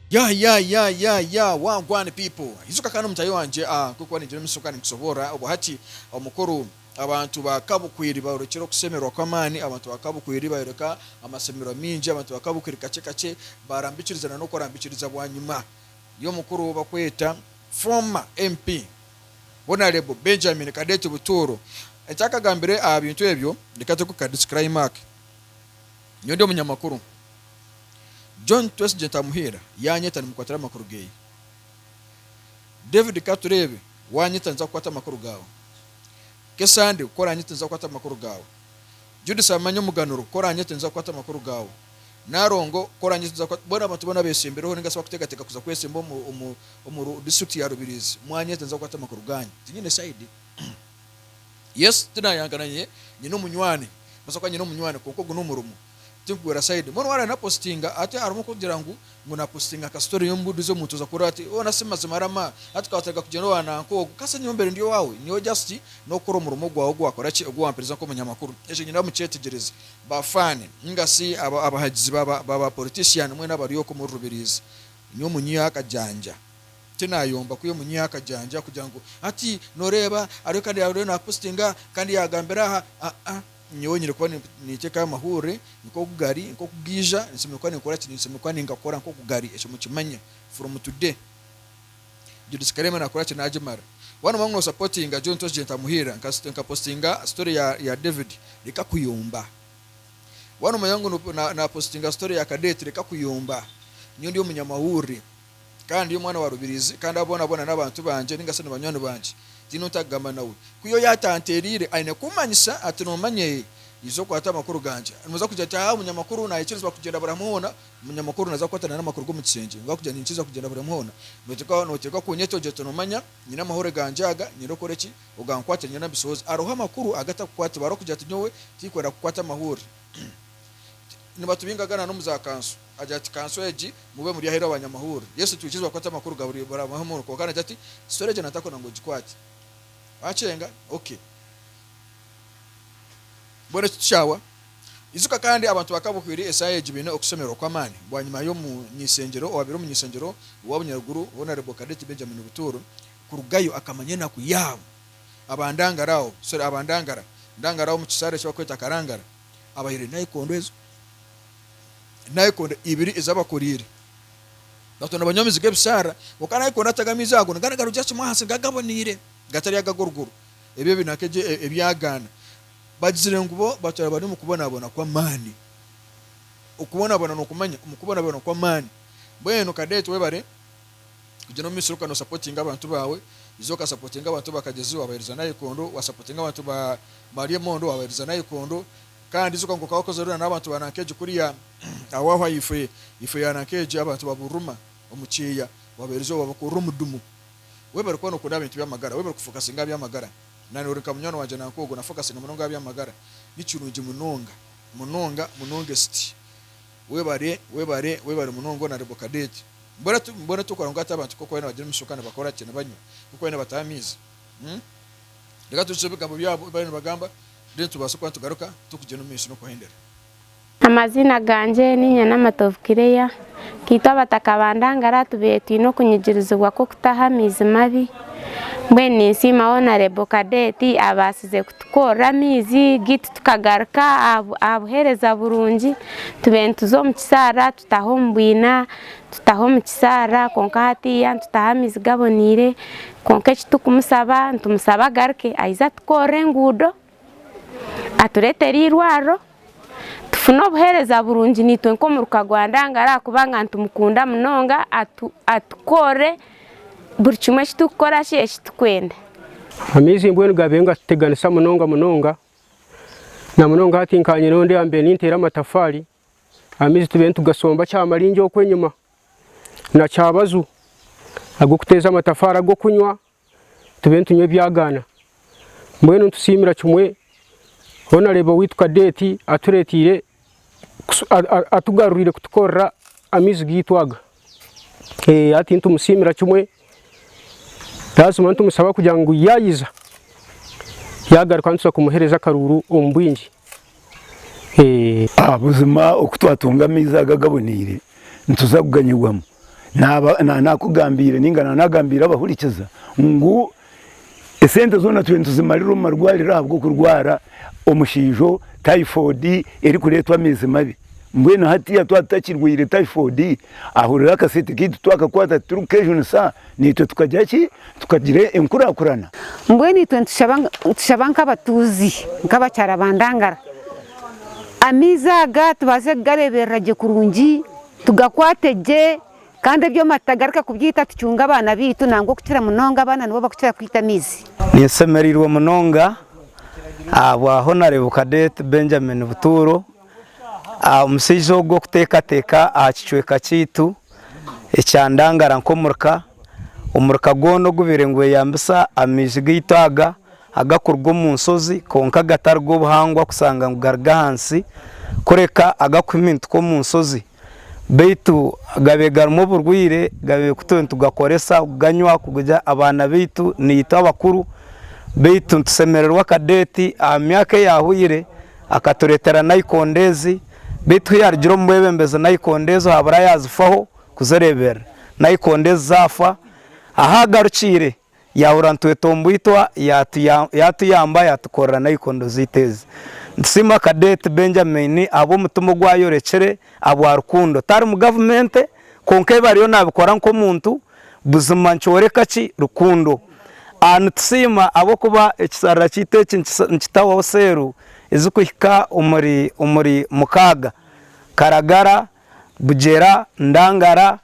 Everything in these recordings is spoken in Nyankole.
ya ya ya ya ya wagwan people izuka kandi omutayi wangye ah, nk'oku waringira omumiso kandi nkusoboorora obwo hati omukuru abantu ba kabukwiri bayorekire okusemerwa kw'amaani abantu ba kabukwiri bayoreka amasemererwa maingi abantu ba kabukwiri kakye kakye barambikiriza na n'okurambikiriza bwanyima y'omukuru ou barikweta Former MP Honarebo Benjamin Cadet Butuuro eki akagambire aha bintu ebyo reka tureke kuka disclaimark nyowe ndi omunyamakuru John Twesigye Ntamuhiira yanyeta nimukwatira amakuru geye David Katureebe wanyeta ninza kukwata amakuru gaawe Kesande ku oranyete ninza kukwata amakuru gaawe Judith Amanya Omuganuro ku oranyete ninza kukwata amakuru gaawe. Narongo k'orangiza tuza kuba boona abantu boona besembireho ninga shi bakuteekateeka kuza kwesemba omu omu omu Ru district ya Rubirizi mwanya ezi ninza kukwata amakuru gaanyu tinyine side yes tinayanga na nye nyine omunywani mbaasa kuba nyine omunywani kwonka ogu n'omurimo tinkugwera side mbwenu waaba napositinga hati harimu kugira ngu ngu napositinga nka story y'omubuduzi omuntu oza kuhurira ati hoona si mazima rama hati ka watareka kugyenda owa nanka ogu ka senyowe mbaire ndi owaawe nyowe just n'okukora omurimo gwawe ogu wakora ki ogu wamperiza nk'omunyamakuru ekyo nyine aho mukyetegyereze Ba fan ninga si abahagizi ba ba politician mwena abari oku omuri Rubirizi nyowe omunyiha akajanja tinayomba kwiha omunyiha akajanja kugira ngu hati noreba ariyo kandi ariyo na postinga kandi yagambira aha aa nyowe nyine kuba nintekayo amahurire nkoku gari nkoku gaija ninsemeriire kuba ninkoraki ninsemeriire kuba ningakora nkoku gari ekyo mukimanye from today. Judith Karema nakora ki nagimara? Waaba noba ngu no supportinga John Tosh Jentamuhiira nka nka postinga story ya ya David reka kuyomba. Waaba nomanya ngu no na na postinga story ya Cadet reka kuyomba. Nyowe ndi omunyamahurire kandi ndi omwana wa Rubirizi kandi abo boona boona n'abantu bangye ninga shi nibanywani bangye tiine ou ntakugamba nawe. Ku yoyo atanteereire aine kummanyisa ati nomanya eeh iza okwate amakuru gangye. Noza kugira ati haa omunyamakuru nayekyerezibwa kugyenda buri hamwe hoona Munya mukuru naza kukwata nana amakuru gomu kishengye ngu akugira ninkiija kugyenda buri omu hoona notereka notereka kunyeta ogira oti nomanya nyine amahoro gangye aga nyenda okore ki ogankwatire nyena mbishohoze aroho amakuru agatakukwatiba aroho kugira oti nyowe tikwenda kukwata amahurire nibatubingaga nana omu za kanso agira ati kanso egi mube muri aheru abanyamahurire Yesu tiwikiriza bakwate amakuru ga buri buri omu hoona kwonka nagira ati story egi natakwenda ngu ogikwate wacenga ok. Mbwenu eki tikyahwa? Ijuka kandi abantu ba kabuhwire esaaha egi baine okushemererwa kw'amaani bwanyima y'omunyaisengyero owaabaire omunyaisengyero wa bunyaruguru Honarebo Cadet Benjamin Butuuru kurugayo akamanya enaku yaabo abandangaraho sorry abandangara ndangaraho omu kisaara eki barikweta Karangara abahaire naikondo ezo naikondo ibiri ezi abakoriire batoona banywa amizi g'ebisaara kwonka naikondo atagamiize ahago nigaba nigarugira kimwe ahansi nigaba gaboneire gatari aga ag'oruguru. ebi ebinaku egyo ebyagaana, bagizire ngu bo batwara bari omu kubonabona kw'amaani. Okubonabona nokumanya omu kubonabona kw'amaani. Mbwenu Cadet webare kugira omu misiri okaba no supportinga abantu baawe, iza oka supportinga abantu ba Kagezi wabahereza nayikondo, wa supportinga abantu ba Maria Emondo wabahereza nayikondo, kandi ijuka ngu okaba okozere na n'abantu ba Nankegye kuriya aho aho ahaifo ya Nankegye abantu ba Buruma omu kyeeya wabahereza wabakoorera omudumo. Webale kuba nokunda abintu byamagara, webale kufokasinga aha byamagara. Nanye ori nka munywani wangye nanka ogwo nafokasinga munonga aha byamagara. Ni kirungi munonga, munonga, munonga esiti. Webale, webale, webale munonga Honourable Cadet. Mbwenu tu, mbwenu tukora ngu hati abantu nk'oku bari nibagira emishoka nibakora ki? Nibanywa nk'oku bari nibataha amaizi? Umm. Reka tujutsye ebigambo byabo ebi bariyo nibagamba, then tubaase kuba nitugaruka, tukugyenda omu maisho n'okuhendera. Amaziina gangye ni Nyanamatovu Kireya, nkaitwe abataka ba Ndangara tubaire twine okunyigirizibwa kw'okutaha amaizi mabi, mbwenu ninsiima Honarebo Kadeeti abaasize kutukoorera amaizi gaitu tukagaruka aha buheereza burungi tubaire nituza omu kisaara tutaha omu bwiina, tutaha omu kisaara kwonka hatiiya nitutaha amaizi gaboneire kwonka eki turikumusaba nitumusaba agaruke aije atukoorere enguudo. atureetere eirwariro tufune obuheereza burungi naitwe nk'omuruka gwa Ndangari ahabw'okuba nitumukunda munonga atukoorere buri kimwe eki turikukora shi eki turikwenda. Amaizi mbwenu gaabaire nigatuteganisa munonga munonga na munonga hati nkaba nyine ondi ahambaire ninteera amatafaari amaizi tubaire nitugasomba kyamaringi okwo enyima na kyabaju ag'okuteeza amatafaari ag'okunywa tube nitunywa ebyagaana. Mbwenu nitusiimira kimwe Honourable waitu Cadet atureeteire atugaruriire kutukorera amaizi gaitu aga. Hati nitumusiimira kimwe twashemererwa nitumusaba kugira ngu yaayiza yaagaruka nituza kumuheereza akaruuru omu bwingi. Buzima oku twatunga amaizi aga agaboneire nituza kuganyigwamu Naaba naanakugambiire nainga naanagambiire abahurikiza ngu esente zoona turiyo nituzimarira omu marwariro ahabw'okurwara omushiijo typhoid erikureetwa amaizi mabi. Mbwenu hatiiya twaba tutakirwaire typhoid, ahurira akasente kaitu twakakwata titurikukejunisa, naitwe tukagira ki? Tukagira enkurakurana. Mbwenu itwe nitushaba nk'abatuuzi, nk'abakyara ba Ndangara, amaizi aga tubaase kugareeberera gye kurungi, Tugakwate gye kandi ebyoma tutagareka kubyita tucunge abaana baitu nangwa okukira munonga abaana nibo bakukira kwita amaizi. Ninshemereirwe munonga ahabwa Honarebo Cadet Benjamin Butuuro, omushaija ogwo kuteekateeka aha kicweka kyaitu ekya Ndangara nk'omurka. Omuruka gwona ogubaire nigweyambisa amaizi gaitu aga agakuruga omu nshozi kwonka agatari g'obuhangwa kushanga ngu garuga ahansi kureka agakuhimintika omu nshozi beitu gabaire garimu oburwaire gabaire kutyo nitugakoresa kuganywa kuguriza abaana beitu naitwe abakuru beitu nitushemererwa akadeeti aha myaka eyahweire akaturetera nayikondo ezi beitu kuyarugire omu bwebembezi nayikondo ezo habura yazifaho. Kuzereeberera. Naikondo ezi zaafa, ahu agarukiire yaahurira nitwetwa omu bwitwa, yaatuyamba yaatukorera naikondo zaitu ezi. Nitusiima Cadet Benjamin ahabw'omutima ogu ayorekire ahabwa rukundo. Tari mu gavumenti, kwonka ebi ariyo naabikora nk'omuntu buzima nikyoreka ki? Rukundo. Nitusiima ahabw'okuba ekisharara kyaitu eki nikitahwaho seelu ezirikuhika omuri mukaaga. Karagara. Bugyera, Ndangara,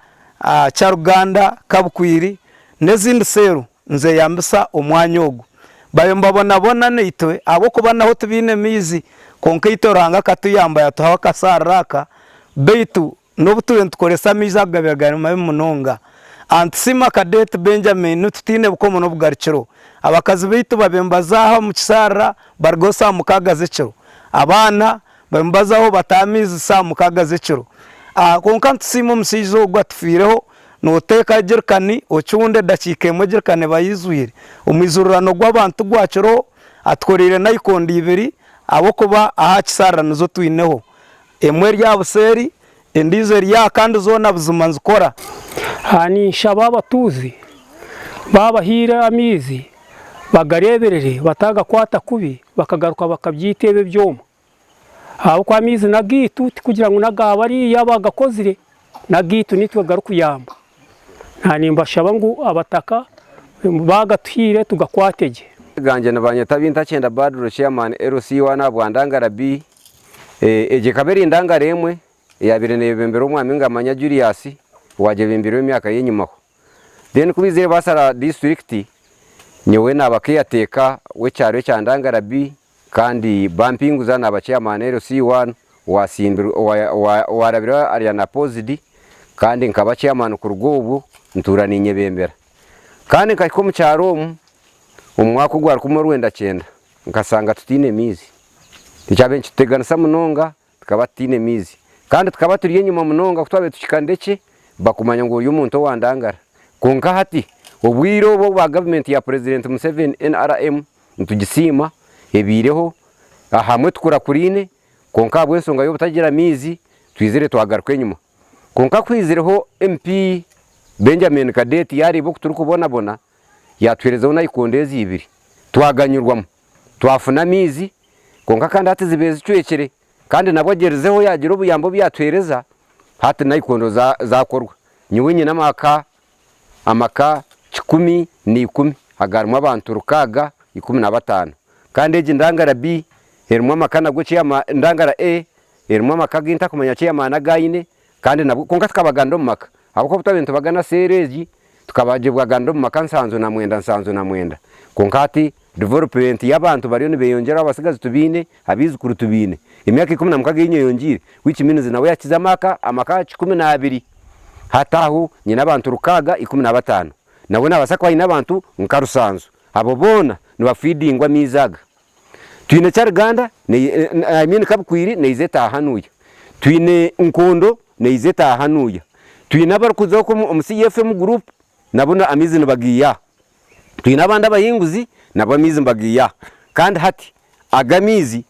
Kyaruganda, Kabukwiiri n'ezindi seero nizeyambisa omwanya ogu. Bayo nibabonabona naitwe ahabw'okuba naho tibaine maizi kwonka itwe Ruhanga akatuyamba yatuhaho akasaariro aka beitu n'obu turiyo nitukoresa amaizi ago gabaire gari mabi munonga. Antisiima Cadet Benjamin, Nitutiine bukomo n'obugarukiro. Abakazi beitu babaire nibazaaha omu kisaarira baruga ho saa mukaaga z'ekiro. Abaana. Baimubazaho bataha amaizi saaha mukaaga z'ekiro. Aa Kwonka nitusiima omushaija ogu atufiireho. Nooteeka ejerikani ocunda edakiika emwe ejerikani eba eijwire. Omwijurirano gw'abantu gwakiroho atukoreire naikondo ibiri ahabw'okuba ahaakisharira nizo twineho. Emwe eri aha buseeri Endiijo eri aha kandi zoona buzima nzikora. Aha ninshaba abatuuzi baabahaire amaizi bagareeberere bataagakwata kubi bakagaruka bakabyeita ebi ebyoma ahabw'okuba amaizi n'agaitu tikugira ngu n'aga bariya abaagakozire, n'agaitu naitwe garikuyamba. Naanimbashaba ngu abataka baagatuhaire tugakwate gye. Gangye nibanyeta Bintakyenda Badru Chairman LC1 Habwandangara Bii. Egyo ekaba eri endangare emwe eyaabaire neebembera omwami Ngamanya Julius owaagyebeembireho emyaka y'enyimaho. Then ku baizire baasara disiturikiti, nyowe naaba keyateeka w'ekyaro ekya Ndangara B kandi bampinguza naaba chairman LC one owaarabire arya na Pozidi kandi nkaba chairman kuruga obwo ntuura niinyebembera. Kandi nkahika omu kyaro omu, omu mwaka ogwarikuma orwenda kyenda, nkasanga tutaine maizi. Nikyabaire nikituteganisa munonga tukaba tutaine maizi. Kandi tukaba turi enyima munonga ku twabaire tuhikanire ki, bakumanya ngu ori omuntu owandangara. Kwonka hati, obwire obu obwa gavumenti ya Purezidenti Museveni, NRM, nitugisiima, ebaireho, ahamwe tukurakuraine, kwonka ahabw'ensonga y'obutagira maizi, twizire twagaruka enyima. Kwonka kuhaizireho MP Benjamin Cadet yaareeba oku turikubonabona, yaatuheerezaho naikondo ezi ibiri. Twaganyirwamu. Twafuna amaizi, kwonka kandi hati zibaire zicwekire. Kandi nabwo agyerizeho yaagira obuyambi obu yaatuheereza, hati naikondo zaakorwa. Nyowe nyine amaka amaka kikumi na ikumi agaarimu abantu rukaaga ikumi na bataano. Kandi egi ndangara B erimu amaka nabwo ekyeyamaa, endangara A erimu amaka agu ntakumanya kyeyamaa n'agu aine, kandi nabwo kwonka tukabaganira omu maka, ahabw'okuba obu twaabaire nitubagana seeri egi, tukabagyebwaganira omu maka nsanju na mwenda, nsanju na mwenda. Kwonka hati Development y'abantu bariyo nibeyongyeraho abatsigazi tubaine, abaijukuru tubaine. Emyaka ikumi na mukaga eyinywe eyongiire, which means nawe yakize amaka amaka kikumi n'abiri hati aho nyine abantu rukaaga ikumi na bataano nawe nabaasa kuba ayine abantu nka rusanju abo boona nibafeedingwa amaizi aga twine kyaruganda I mean kabukwiiri neyiza etaaha hanuuya twine nkondo neyiza etaaha hanuuya twine abarikuza oku omu CFM group nabo amaizi nibagaiyaho Twine abandi abahinguzi, nabo amaizi mbagaihaho. Kandi hati aga amaizi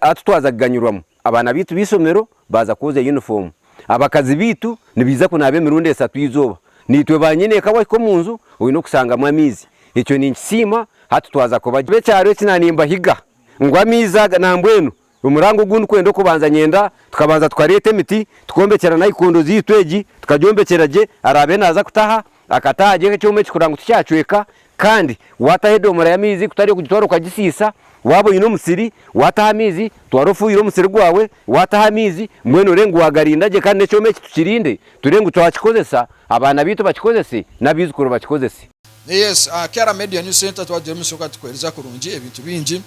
hati twaza kuganyurwamu, abaana baitu b'eishomero baaza kwozya yunifoomu, abakazi baitu nibaija kunaaba emirundi esatu eizooba, naitwe baanyineeka wahika omu nju oine okusangamu amaizi. Ekyo ninkisiima, hati twaza kubagira. Ekyaro eki naaba nimbahiga ngu amaizi aga nambwenu Omurango ogundi kwenda okubanza nyenda tukabanza tukareeta emiti tuk'ombekyera nayikondo zaitu egi tukagyombekyera gye araabe naaza kutaha akataha agyeho ekyoma ekikura ngu tikyacweka kandi waataho edoomora y'amaizi kutari okugitwara okagisiisa waaba oine omusiri waataho amaizi twara ofuuhire omusiri gwawe waataho amaizi mbwenu orebe ngu waagarinda gye kandi n'ekyoma eki tukirinde turebe ngu twakikozesa abaana baitu bakikozese n'abaijukuru bakikozese. Naye yes aha Kara Media News Centre twaba turi omu isoka tukuhereza kurungi ebintu bingi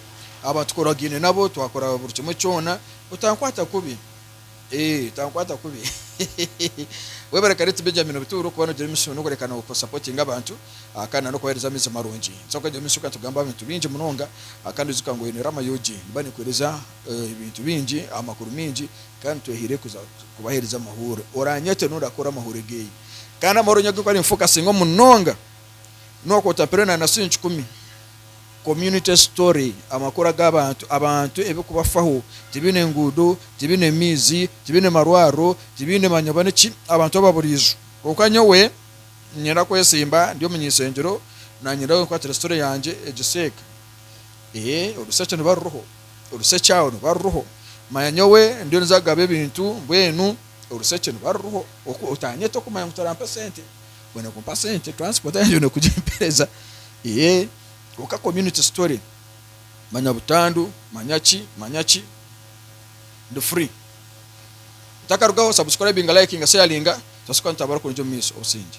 aba tukoragaine nabo twakora buri kimwe kyona otankwata kubi eeh otankwata kubi hehehehe Webare Karit Benjamin Obuturo kuba nogira emisuno nokureka no ku supportinga abantu aha kandi nokubahereza amaizi marungi nituza kwija omu isoka tugambe abintu bingi munonga aha kandi ijuka ngu oine Rama UG niba nekuhereza eeh ebintu bingi amakuru mingi kandi twehaire kuza kubahereza amahuure oranyete norakora amahuure geeye. Kandi amahoro enye agu garinfokasingaho munonga n'oku otapire na na sinci ikumi. Community story, amakuru ag'abantu, abantu ebirikubafaho, tibiine nguudo, tibiine maizi, tibiine marwariro, tibiine manyobwa n'eki, abantu ababuriijo. Kwonka nyowe niinyenda kwesimba ndi omu nyisengyero naanyenda we nkwatire story yangye egiseeka. Ee, orusekye niruba ruriho, orusekye aho niruba ruriho. Manya nyowe ndiyo ninza kugaba ebintu mbwenu. orushekye niba ruriho otanyeta okumanya ngu torampa sente bwenu kumpa sente transport yangye oyine kugimpereza eeh kwonka community story manya butandu manya ki manya ki ndi free otakarugaho subscribinga likinga sharinga twase kuba nitutambura kurungi omumaiso obusingye.